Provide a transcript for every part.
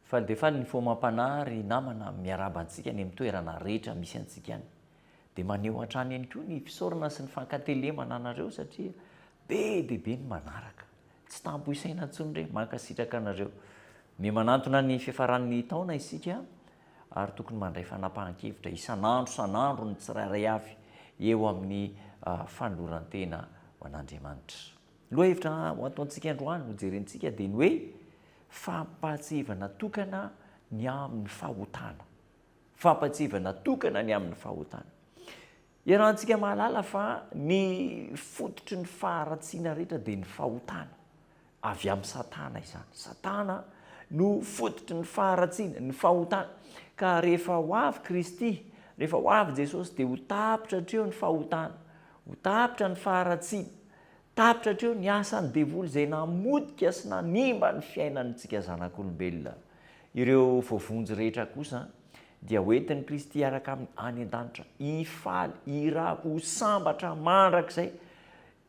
Faly dia faly ny fo amam-panahy ry namana miarahaba antsika any amin'ny toerana rehetra misy antsika any. Dia maneho hatrany ihany koa ny fisaorana sy ny fankatelemana anareo satria be dia be ny manaraka. Tsy tampo isaina intsony re, mankasitraka anareo. Miha manantona ny fiafaran'ny taona isika ary tokony mandray fanapahan-kevitra isan'andro isan'andro ny tsirairay avy eo amin'ny fanoloran-tena ho an'Andriamanitra. Lohahevitra ho ataontsika androany no jerentsika dia ny hoe fampahatsiahivana tokana ny amin'ny fahotana. Fampatsiahivana natokana ny amin'ny fahotana. Iarahantsika mahalala fa ny fototry ny faharatsiana rehetra dia ny fahotana. Avy amin'i Satana izany. Satana no fototry ny faharatsiana, ny fahotana. Ka rehefa ho avy Kristy, rehefa ho avy Jesosy dia ho tapitra hatreo ny fahotana, ho tapitra ny faharatsiana. Tapitra hatreo ny asan'ny devoly izay namotika sy nanimba ny fiainantsika zanak'olombelona. Ireo voavonjy rehetra kosa dia hoentin'i Kristy hiaraka Aminy any an-danitra, hifaly, hiravo, ho sambatra mandrakizay.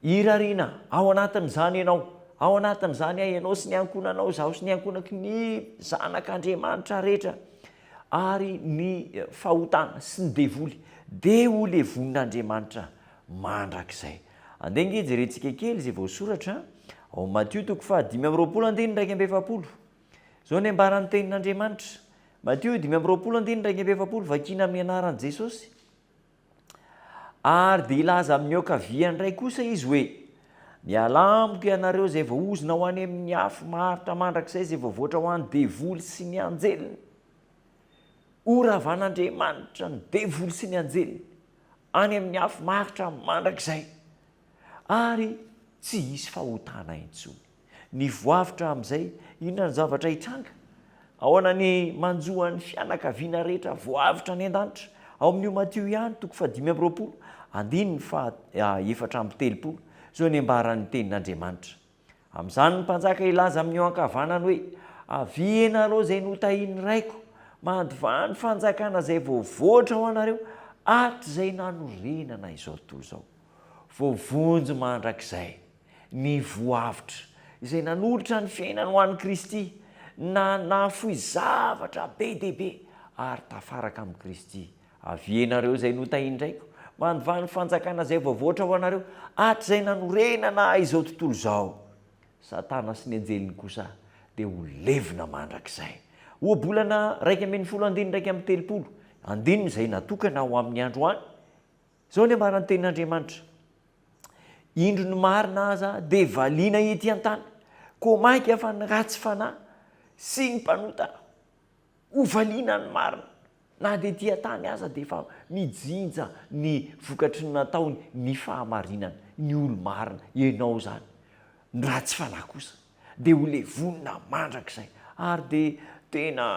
Hirariana ao anatin'izany ianao, ao anatin'izany aho, ianao sy ny ankohonanao, izaho sy ny ankohonako, ny zanak'Andriamanitra rehetra, ary ny fahotana sy ny devoly. Dia ho levon'Andriamanitra mandrakizay. Andeha ange jerentsika kely izay voasoratra ao Matio toko fahadimy amby roapolo andininy iraika amby efapolo. Izao ny ambaran'ny Tenin'Andriamanitra, Matio dimy amby roapolo andininy iraika amby efapolo, Vakina amin'ny anaran'i Jesosy. Ary dia hilaza amin'ny aoka viany indray kosa izy hoe, Mialà amiko ianareo izay voaozona ho any amin'ny afo maharitra mandrakizay izay voavoatra ho an'ny devoly sy ny anjeliny. Horavan'Andriamanitra ny devoly sy ny anjeliny any amin'ny afo maharitra mandrakizay, ary tsy hisy fahotana intsony. Ny voavotra amin'izay, inona ny zavatra hitranga? Ahoana ny manjo an'ny fianakaviana rehetra voavotra any an-danitra? Ao amin'io Matio ihany, toko fahadimy amby roapolo, andininy faha efatra amby telopolo, izao ny ambaran'ny Tenin'Andriamanitra. Amin'izany ny mpanjaka hilaza amin'io ankavanany hoe, Avia ianareo izay notahin'ny raiko, mandovà ny fanjakana izay voavoatra ho anareo hatrizay nanorenana izao tontolo izao. Voavonjy mandrakizay ny voavotra izay nanolotra ny fiainany ho an'i Kristy na nahafoy zavatra be dia be ary tafaraka amin'i Kristy Avia ianareo izay notahin-draiko, mandivaha ny fanjakana izay voavoatra ho anareo, hatrizay nanorenana ahy izao tontolo izao. Satana sy ny anjeliny kosa dia ho levona mandrakizay. Ohabolana iraika ambin'ny folo andininy iraika amby telopolo, andininy izay natokana ho amin'ny andro any, izao ny ambaran'ny Tenin'Andriamanitra, Indro ny marina aza dia valiana ety an-tany, koa mainka fa ny ratsy fanahy sy ny mpanota. Ho valiana ny marina. Na dia ety an-tany aza dia efa mijinja ny vokatry ny nataony ny fahamarinana, ny olo-marina, ianao izany. Ny ratsy fanahy kosa dia ho levonina mandrakizay. Ary dia tena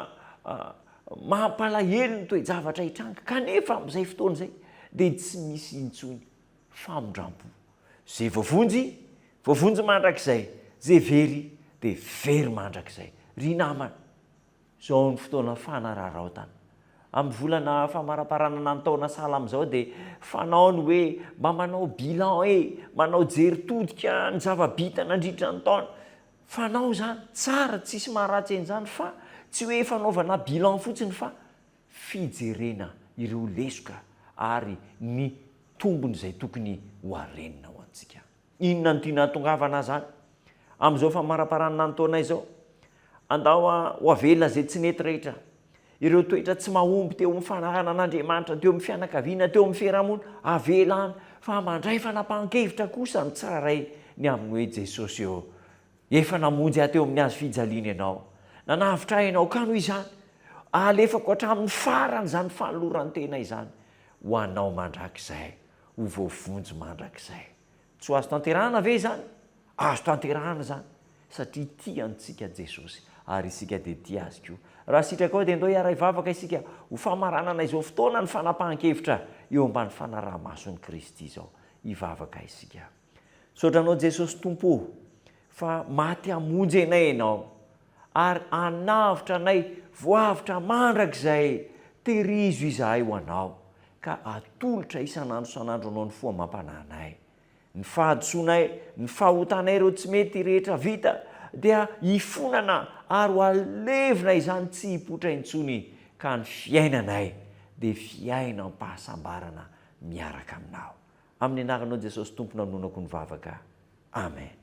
mampalahelo ny toe-javatra hitranga, kanefa amin'izay fotoana izay dia tsy misy intsony famindram-po. Izay voavonjy, voavonjy mandrakizay, izay very dia very mandrakizay. Ry namana, Izao amin'ny fotoana fanararaotana. Amin'ny volana famaraparanana ny taona sahala amin'izao dia fanao ny hoe mba manao bilan e! manao jery todika ny zava-bita nandritra ny taona. Fanao izany, tsara, tsisy maharatsy an'izany fa tsy hoe fanaovana bilan fotsiny fa fijerena ireo lesoka ary ny tombony izay tokony ho harenina ho antsika. Inona no tianao atongavana zany amin'izao famaraparanana ny taona izao? Andao ho avelona izay tsy nety rehetra. Ireo toetra tsy mahomby teo amin'ny fanarahana an'Andriamanitra, teo amin'ny fianakaviana, teo amin'ny fiarahamonina, avela any, fa mandray fanapahan-kevitra kosa amin'ny tsirairay ny amin'ny hoe Jesosy eo. Efa namonjy ahy teo amin'ny hazo fijaliana ianao. Nanavotra ahy ianao, ka noho izany, alefako hatramin'ny farany izany fanoloran-tena izany ho anao mandrakizay. ho voavonjy mandrakizay. Tsy ho azo tanterahana ve izany? Azo tanterahana izany, satria tia antsika Jesosy, ary isika dia tia Azy koa. Raha sitrakao, dia ndao hiaray vavaka isika ho famaranana izao fotoana ny fanapahan-kevitra eo ambany fanaraha-mason'i Kristy izao. Hivavaka isika. Misaotra anao Jesosy Tompo o, fa maty hamonjy anay ianao, ary hanavotra anay voavotra mandrakizay, terizo izahay ho anao, ka atolotra isan'andro isan'andro anao ny fo amam-panahy anay. Ny fahadisoanay, ny fahotanay ireo tsy mety rehetra vita, dia hifonana ary ho alevina izany tsy hipoitra intsony, ka ny fiainanay dia fiainam-pahasambarana miaraka aminao. Amin'ny anaranao Jesosy Tompo nanonako ny vavaka. Amen.